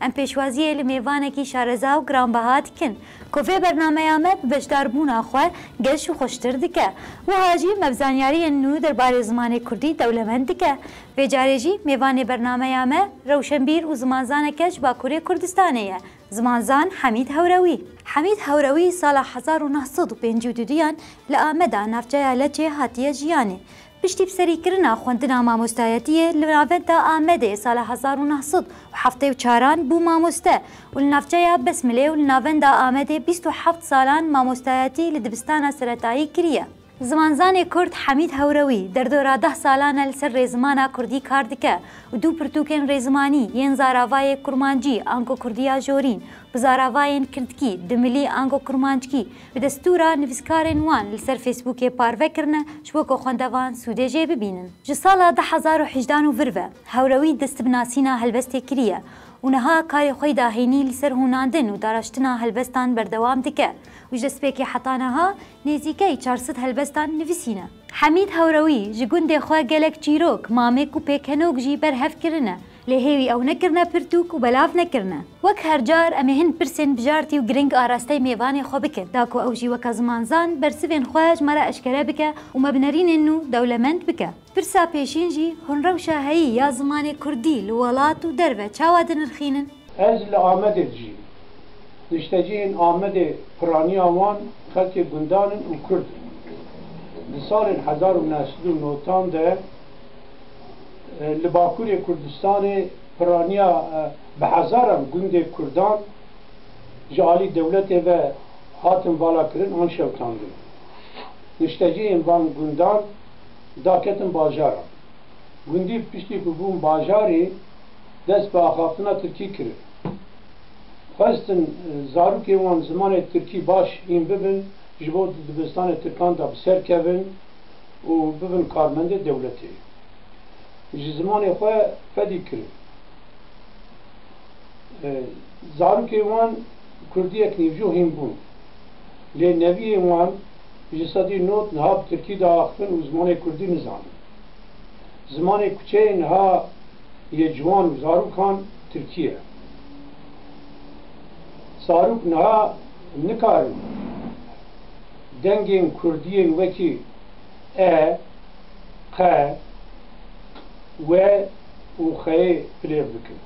Em pêşwaziyê li mêvanekî şareza û giranbeha dikin ku vê bernameya me bi beşdarbûna xwe geş û xweştir dike. Wiha jî me bi zanyariyên nû derbarê zimanê kurdî dewlemend dike. Vê carê jî mêvanê bernameya me rewşenbîr û zimanzaneke ji Bakurê Kurdistanê ye, zimanzan Hemîd Hewrewî. Hemîd Hewrewî sala hezar û neh sed û pêncî û duduyan li Ameda navçeya Leçê hatiye jiyanê. Piştî bi serî kirina xwendina mamostayetiyê li navenda Amedê sala hezar û neh sed û heftê û çaran bû mamoste û li navçeya Besmilê û li navenda Amedê bîst û heft salan mamostayetî li dibistana seretayî kiriye. Zimanzanê kurd Hemîd Hewrewî derdora deh salan e li ser rêzimana kurdî kar dike û du pirtûkên rêzimanî yên zaravayê kurmancî ango kurdiya jorîn bi zaravayên kirdkî, dimilî ango kurmanckî, Bi destûra nivîskarên wan li ser Fêsbûkê parve kirine ji bo ku xwendevan sûdê jê bibînin. Ji sala du hezar û hejdeh û vir ve Hewrewî dest bi nasîna helbestê kiriye û niha karê xwe yî da hênî li ser hûnandin û daraştina helbestan berdewam dike û ji destpêkê heta niha nêzîkey çar sed helbestan nivîsîne. Hemîd Hewrewî ji gundê xwe gelek çîrok, mamik û pêkenok jî berhev kirine. Lê hêwî ew nekirine pirtûk û belav nekirine. Wek her car em ê hin pirsên bijartî û girîng arasteyê mêvanê xwe bikin. Da ku ew jî weka zimanzan bersivên xwe ji me re eşkere bike û me bi nerînên nû dewlemend bike. Pirsa pêşîn jî hûn rewşa heyî ya zimanê kurdî li welat û derve çawa dinirxînin? Ez li Amedê dijîm. Niştecihên Amedê piraniya wan xelkê gundan in û kurd in. Di salên hezar û neh sed û notan de, Li Bakurê Kurdistanê piraniya bi hezaran gundên Kurdan ji alî dewletê ve hatin valakirin an şewitandin. Niştecihên van gundan daketin bajaran. Gundî piştî ku bûn bajarî dest bi axaftina tirkî kirin. Xwestin zarokên wan zimanê tirkî baş hîn bibin, ji bo di dibistanê tirkan de bi ser kevin. û bibin karmendê dewletê ji zimanê xwe fedî kirin. Zarokên wan kurdiyek nîvco hîn bûn. Lê neviyên wan ji sedî nod niha bi tirkî diaxivin û zimanê kurdî nizanin. Zimanê kuçeyê niha yê ciwan û zarokan tirkî ye. Zarok niha nikarin. Dengên kurdiyên wekî e, qe, q, we û xeyê bilêv dikin.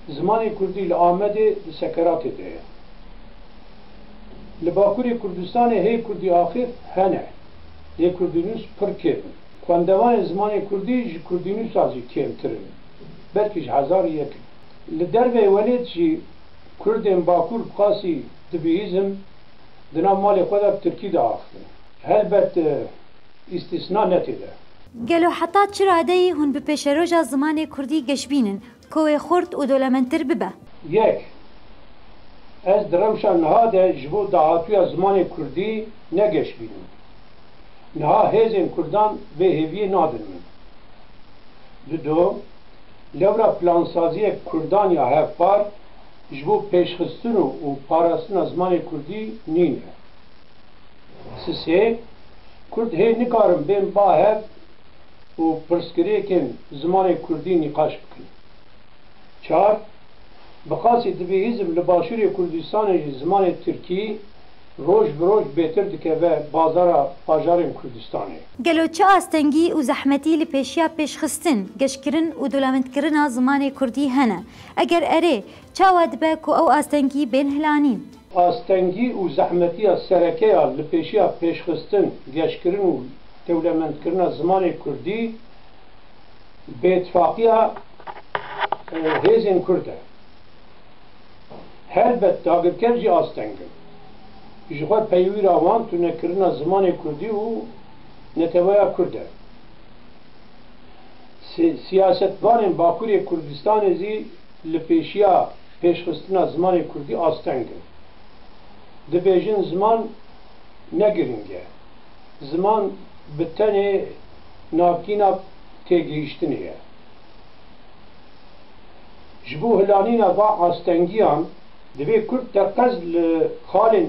Zimanê kurdî li Amedê di sekeratê de ye. Li Bakurê Kurdistanê hê kurdî axif hene, lê kurdînûs pir kêm in. Xwendevanên zimanê kurdî ji kurdînûsa jî kêmtir in, belkî ji hezar yek in. Li derveyê welêt jî kurdên Bakur bi qasî. Di bihîzim di nav malê xwe de bi tirkî diaxivin. Helbet îstîsna ne tê de. Gelo heta çi radeyî hûn bi pêşeroja zimanê kurdî geşbîn in ku wê xurt û dolementtir bibe? Yek, ez di rewşa niha de ji bo dahatuya zimanê kurdî ne geşbîn im. Niha hêzên kurdan vê hêviyê nadin min. Dudo, lewra plansaziyek kurdan ya hevpar, Ji bo pêşxistin û parastina zimanê kurdî nîn e. Sisê, Kurd hê nikarin bên ba hev û pirsgirêkên zimanê kurdî nîqaş bikin. Çar, Bi qasî divê hîzm li Başûrê Kurdistanê jî zimanê tirkî roj bi roj bêtir dikeve bazara bajarên Kurdistanê. Gelo çi astengî û zehmetî li pêşiya pêşxistin, geşkirin û dolamendkirina zimanê kurdî hene? Eger erê, çawa dibe ku ew astengî bên hilanîn? Astengî û zehmetiya sereke ya li pêşiya pêşxistin, geşkirin û dewlemendkirina zimanê kurdî bêtifaqiya hêzên kurd e. Helbet dagirker jî asteng in. Jixwe peywira wan tunekirina zimanê kurdî û neteweya kurd e. Siyasetvanên Bakurê Kurdistanê zî li pêşiya pêşxistina zimanê kurdî asteng in. Dibêjin ziman ne giring e. Ziman bi tenê navkîna têgihîştinê ye. Ji bo hilanîna van astengiyan divê kurd teqez li xalên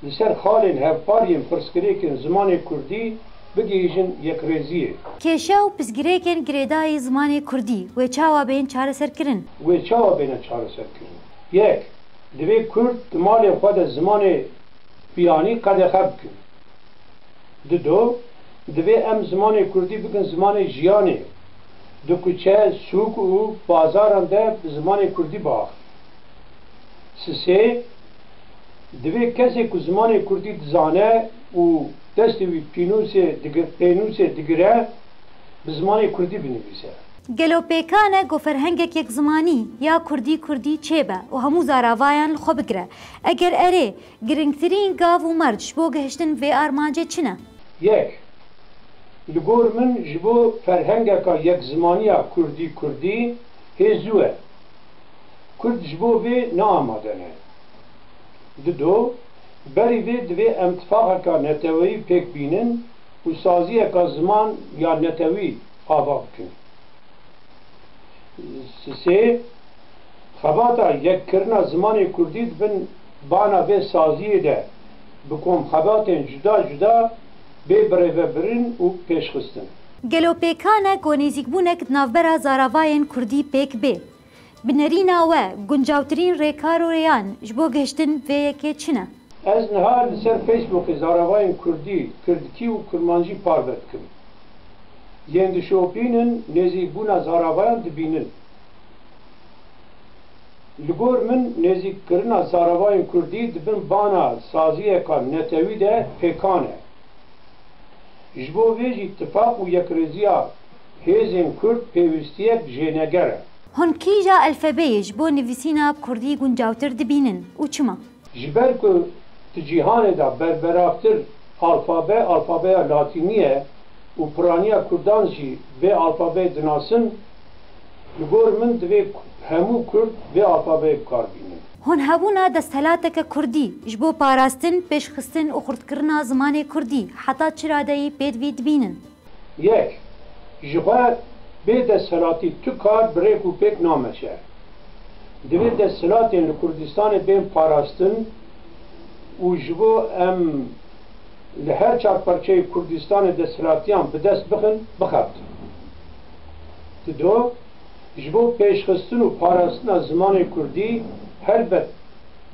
li ser xalên hevpar yên pirsgirêkên zimanê kurdî, bigihîjin yekrêziyê. Kêşe û pirsgirêkên girêdayî zimanê kurdî wê çawa bên çareserkirin? Wê çawa bêne çareserkirin? Yek, divê kurd di malên xwe de zimanê biyanî qedexe bikin. Di do, divê em zimanê kurdî bikin zimanê jiyanê. Di kuçe, sûk û bazaran de bi zimanê kurdî biaxivin. Sisê, divê kesê ku zimanê kurdî dizane û. Destê wî pînûsê digir, pênûsê digire, bi zimanê kurdî binivîse. Gelo pêkan e ku ferhengek yekzimanî, ya kurdî kurdî çêbe û hemû zaravayan li xwe bigire? Eger erê, giringtirîn gav û merc ji bo gihiştin vê armancê çi ne? Yek, Li gor min ji bo ferhengeka yekzimaniya kurdî kurdî hê zû e. Kurd ji bo vê ne amade ne. Dido, Berî vê divê em tifaqeka neteweyî pêk bînin û saziyeka ziman ya netewî ava bikin. Sê, xebata yekkirina zimanê kurdî di bin bana vê saziyê de bi komxebatên cuda cuda bê birêvebirin û pêşxistin. Gelo pêka ne ku nêzîkbûnek di navbera zaravayên kurdî pêk bê? Bi nerîna we guncawtirîn rêkar û rêyan ji bo gihiştin vê yekê çi ne? Ez niha li ser Facebookê zaravayên kurdî, kirdkî û kurmanjî parve dikim. Yên dişopînin nêzîkbûna zaravayan dibînin. Li gor min nêzîkkirina zaravayên kurdî di bin bana saziyeka netewî de pêkan e. Ji bo vê jî tifaq û yekrêziya Hêzên Kurd pêwîstiyek jêneger e. Hûn kîja elfebeyê ji bo nivîsîna kurdî guncawtir dibînin û çima? Ji ber ku di cîhanê de berberavtir alfabe alfabeya latînî ye û piraniya kurdan jî vê alfabeyê dinasin, bi gor min divê hemû kurd vê alfabeyê bi kar bînin. Hûn hebûna desthilateke kurdî ji bo parastin, pêşxistin û xurtkirina zimanê kurdî heta çi radeyî pêdivî dibînin? Yek, ji xwe bê desthilatî tu kar bi rêk û pêk nameşe. Divê desthilatên li Kurdistanê bên parastin û ji bo em li her çar parçeyê Kurdistanê desthilatiyan bi dest bixin, bixebtin. Dido, ji bo pêşxistin û parastina zimanê Kurdî helbet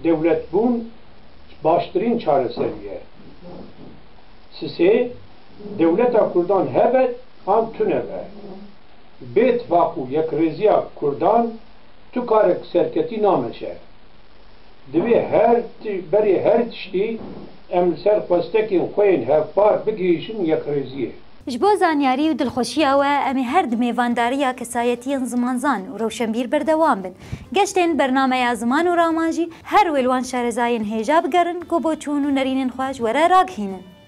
dewletbûn baştirîn çareserî ye. Sisê. Dewleta Kurdan hebe an tune be, bê tifaq û yekrêziya Kurdan tu karek serketî nameşe. Divê her berê her tiştî em li ser xwestekên xwe yên hevpar bigihîşin yekrêziyê. Ji bo zanyarî û dilxweşiya we em ê her di mêvandariya kesayetiyên zimanzan û rewşenbîr berdewam bin. Geştên bernameya ziman û raman jî her wê li wan şarezayên hêja bigerin ku bo çûn û nerînên xwe ji were ragihînin.